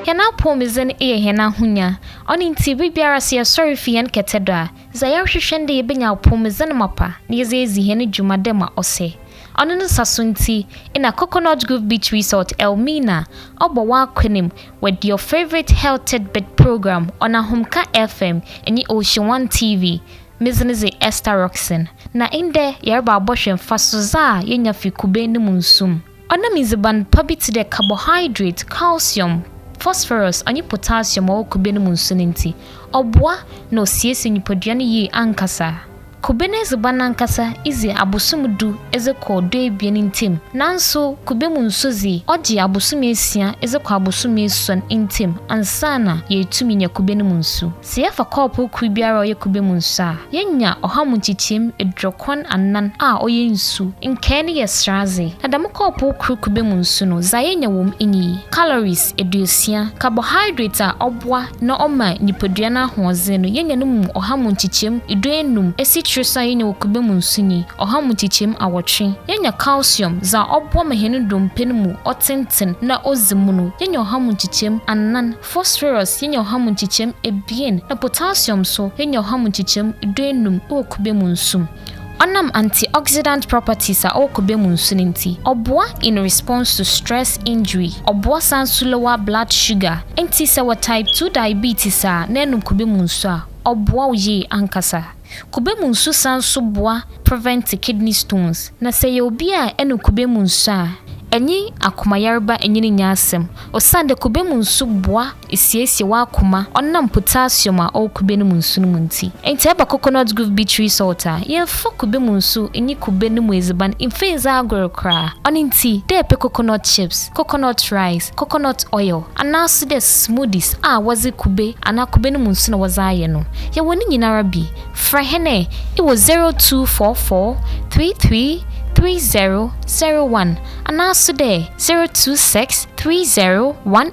Hɛn apɔwmudzen yɛ hɛn ahonya. Ɔno ntsi, ber biara sɛ yɛsɔr fi hɛn kɛtɛ do a, dza yɛrohwehwɛ nye dɛ yebenya apɔwmudzen mapa na yɛdze edzi hɛn dwuma dɛ ma ɔsɛ. Ɔno ne nsaso ntsi na Coconut Grove Beach Resort, Elmina, ɔbɔ w'akwan mu With your favourite health tidbit program on Ahomka FM nye Ocean One TV, medze no dze Esther Rockson. Na ndɛ yɛreba abɔhwɛ mfasodze a yenya fi kube no mu nsu mu. Ɔnam ndziban pa bi tse dɛ carbohydrate, calcium, phosphorus ɔnye potassium ɔwɔ kube no mu nsu no ntsi, ɔboa na osiesie nyimpadua no yie ankasa. Kube no edziban ankasa dze abosoom du dze kɔ duebien ntamu, naaso kube mu nsu dze, ɔgye abosoom esia dze kɔ abosoom esuon ntamu ansaana yeetum enya kube no mu nsu. Sɛ yɛfa kɔɔpow kor biara a ɔyɛ kube mu nsu a, yenya ɔha mu nkyekyeemu eduokron anan a ɔyɛ nsu, nkae no yɛ seradze, na dɛm kɔɔpow kor kube mu nsu no dza yenya wɔ mu nye yi, calories eduosia, carbohydrate a ɔboa, na ɔma nyipadua no ahoɔdzen no, yenya no mu ɔha mu nkyekyɛm duenum, esikyire so a yenya wɔ kube mu nso nye ɔha mu nkyekyɛm awɔtwe. Yenya calcium, dza ɔboa ma hɛn ndompe no mu ɔtsentsen na odzi mu no, yenya ɔha mu nkyekyɛm anan, phosphorus, yenya ɔha mu nkyekyɛm ebien, na potassium so, yenya ɔha mu nkyekyɛm duenum wɔ kube mu nso mu. Ɔnam antioxidant properties a ɔwɔ kube mu nsu no nti, ɔboa in response to stress injury, ɔboa san nso lower blood sugar. Nti sɛ wɔ type two diabetes a na ɛnom kube mu nsu a, ɔboa wo yie ankasa. Kube mu nsu san nso boa prevent kidney stones. Na sɛ yɛ obi a ɛnom kube mu nsu a, ɛnye akomayareba nyini nyɛ asɛm osiandɛ kube mu nsu boa. Esiesie w'akoma ɔnam potassium a ɔwɔ kube no mu nsu no mu ntsi. Ntsi ɛba coconut grove beach resort a, yɛmmfa kube mu nsu nnyi kube no mu edziban mmfa ndzi agor koraa. Ɔno ntsi, dɛ epɛ coconut chips, coconut rice, coconut oil, anaaso dɛ smoothies a wɔdze kube anaa kube no mu nsu na wɔdze ayɛ no, yɛwɔ ne nyinara bi. Frɛ hɛn ɛ ewɔ zero two four four three three three zero zero one anaaso dɛ zero two six three zero one